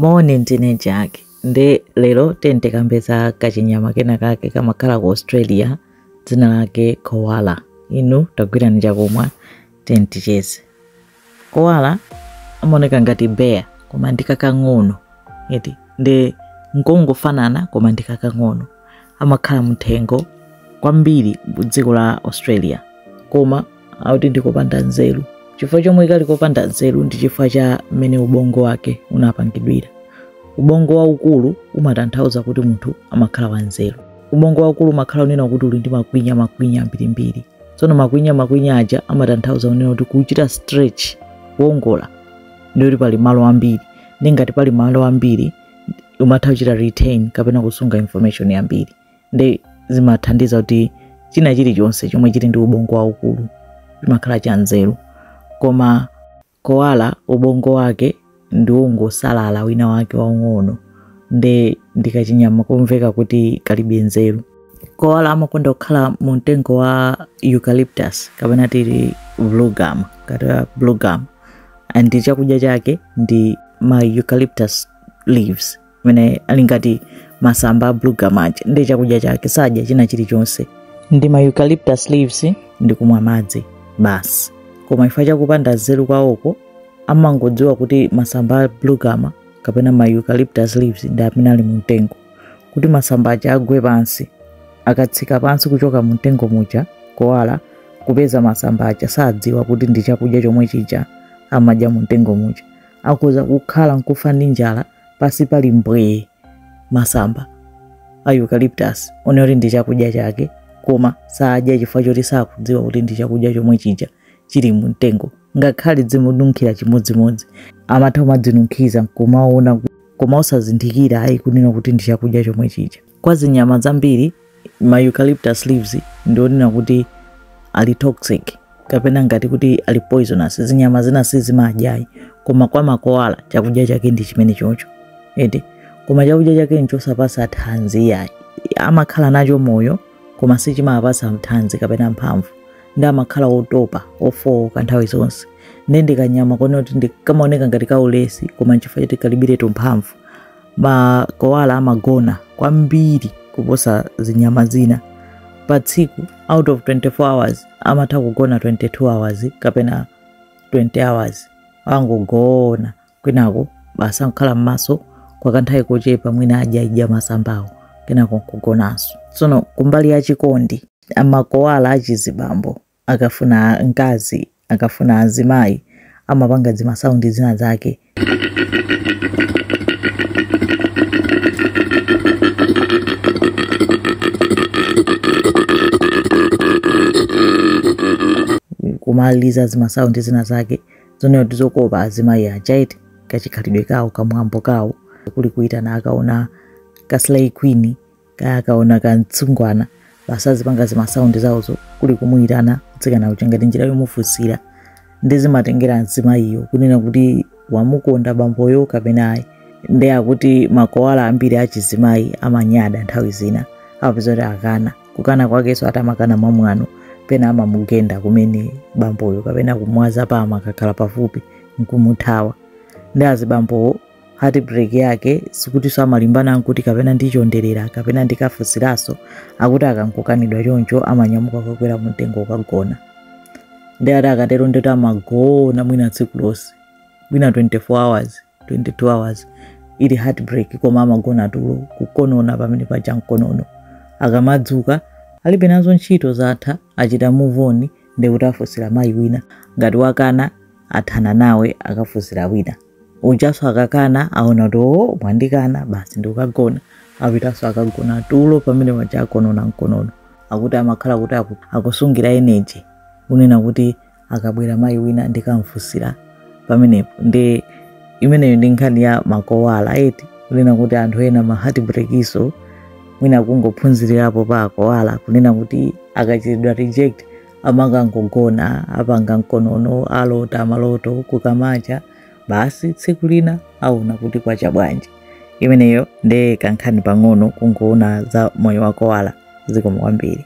Moni, ndine Jack. Ndiye lero tiyeni tikambe za kachinyama kena kake kamakhala ku Australia dzina lake koala. Inu tagwirani chakumwa tiyeni ticheze. Koala amaoneka ngati bear koma ndi kakang'ono eti nde nkongofanana koma ndi kakang'ono. amakhala mthengo kwambiri kudziko la australia koma akuti ndikopanda nzeru chifukwa chomwe kali kopanda nzeru ndi chifukwa cha mmene ubongo wake unapangidwira ubongo waukulu umatanthauza kuti munthu amakhala wanzeru ubongo waukulu umakhala unena kuti uli ndi makwinya makwinya ambirimbiri tsono makwinya makwinya aja amatanthauza unena kuti kuchita stretch kuongola ndiye kuti pali malo ambiri nde ngati pali malo ambiri umatha kuchita retain kapena kusunga information yambiri nde zimathandiza kuti china chilichonse chomwe chili ndi ubongo waukulu chimakhala cha nzeru koma koala ubongo wake ndi ongosalala kwina wake waung'ono nde ndikachinyama komveka kuti kalibe nzeru koala amakonda kukhala mu mtengo wa eucalyptus kapena titi bluegum kaya bluegum and chakudya chake ndi ma eucalyptus leaves amene ali ngati masamba a bluegum aja ndi chakudya chake sadya china chilichonse ndi ma eucalyptus leaves ndi kumwa madzi basi koma chifukwa chakupanda nzeru kwawoko amangodziwa kuti masamba a bluegum kapena ma eucalyptus leaves ndi amene ali mu mtengo kuti masamba aja agwe pansi akatsika pansi kuchoka mu mtengo muja koala kupeza masamba aja sadziwa kuti ndi chakudya chomwe chija amadya mu mtengo muja akhoza kukhala nkufa ndi njala pansi pali mbwee masamba a eucalyptus onena kuti ndi chakudya chake koma sadya chifukwa choti sakudziwa kuti ndi chakudya chomwe chija chili mu mtengo ngakhale zimununkhira chimodzimodzi amatha kumadzinunkhiza nkumaona koma osazindikira ayi kunena kuti ndi chakudya chomwe chija Kwa zinyama zambiri, ma eucalyptus leaves ndi onena kuti ali toxic kapena ngati kuti ali poisonous. Zinyama zina sizimadyayi, koma kwa makoala chakudya chake ndi chimenechocho eti, koma chakudya chake nchosapasa thanzi yayi. Amakhala nacho moyo koma sichimapasa thanzi kapena mphamvu, nde amakhala otopa ofooka nthawi zonse nde ndikanyama konena kuti kamaoneka ngati kaulesi koma nchifukwa choti kalibiretu mphamvu. Makoala amagona kwambiri kuposa zinyama zina. Pa tsiku out of 24 hours amatha kugona 22 hours kapena 20 hours. Angogona kwinako basi nkukhala m'maso kwa kanthawi kochepa mwina adyaidya masambawo kenako nkugonanso. Tsono kumbali ya chikondi amakoala achizibambo akafuna mkazi akafuna azimayi amapanga zimasaundi zina zake kumaliza zimasaundi zina zake zonena kuti zokopa azimayi aja iti kachikhalidwe kawo kamwambo kawo kuli kuitana akaona kaslay queen kaya akaona kamtsungwana basi azipanga zimasaundi zawozo kuli kumuyitana mtsikana uja ngati njira yomufunsira ndi zimatengera mzimayiyo kunena kuti wamukonda bamboyo kapena ayi ndiye akuti makoala ambiri achizimayi amanyada nthawi zina amapeza kuti akana kukana kwakenso atamakana mwamwano pena amamugenda kumene bamboyo kapena kumwaza pa amakhala pafupi nkumuthawa ndi azibambowo heartbreak yake sikutinso amalimbana nkuti kapena ndichonderere kapena ndikafusiranso akuti akangokanidwa choncho amanyamuka kukakwera mumtengo ukagona ndiye akuti akatero ndikuti amagona mwina tsiku lonse mwina 24 hours 22 hours ili heartbreak koma amagona tulo kukonona pamene paja mkonono akamadzuka alibe nazo ntchito zatha achita move on ndikuti afusira mayi wina ngati wakana athana nawe akafusira wina ujaso akakana aona kuti oh, mwandikana basi ndikukagona apitaso akagona tulo pamene paja akonona mkonono akuti amakhala kuti akusungira energy kunena kuti akabwera mayi wina ndikamfusira pamenepo ndi imeneyo ndi nkhani ya makoala eti kunena kuti anthu ena ma heartbreak-nso mwina kungophunzirirapo pa akoala kunena kuti akachitidwa reject Amangogona, apanga mkonono, alota maloto, kukamacha, basi tsiku lina aona kuti kwacha bwanji. Imeneyo nde kankhani pang'ono kungoona za moyo wa koala. Zikomo kwambiri.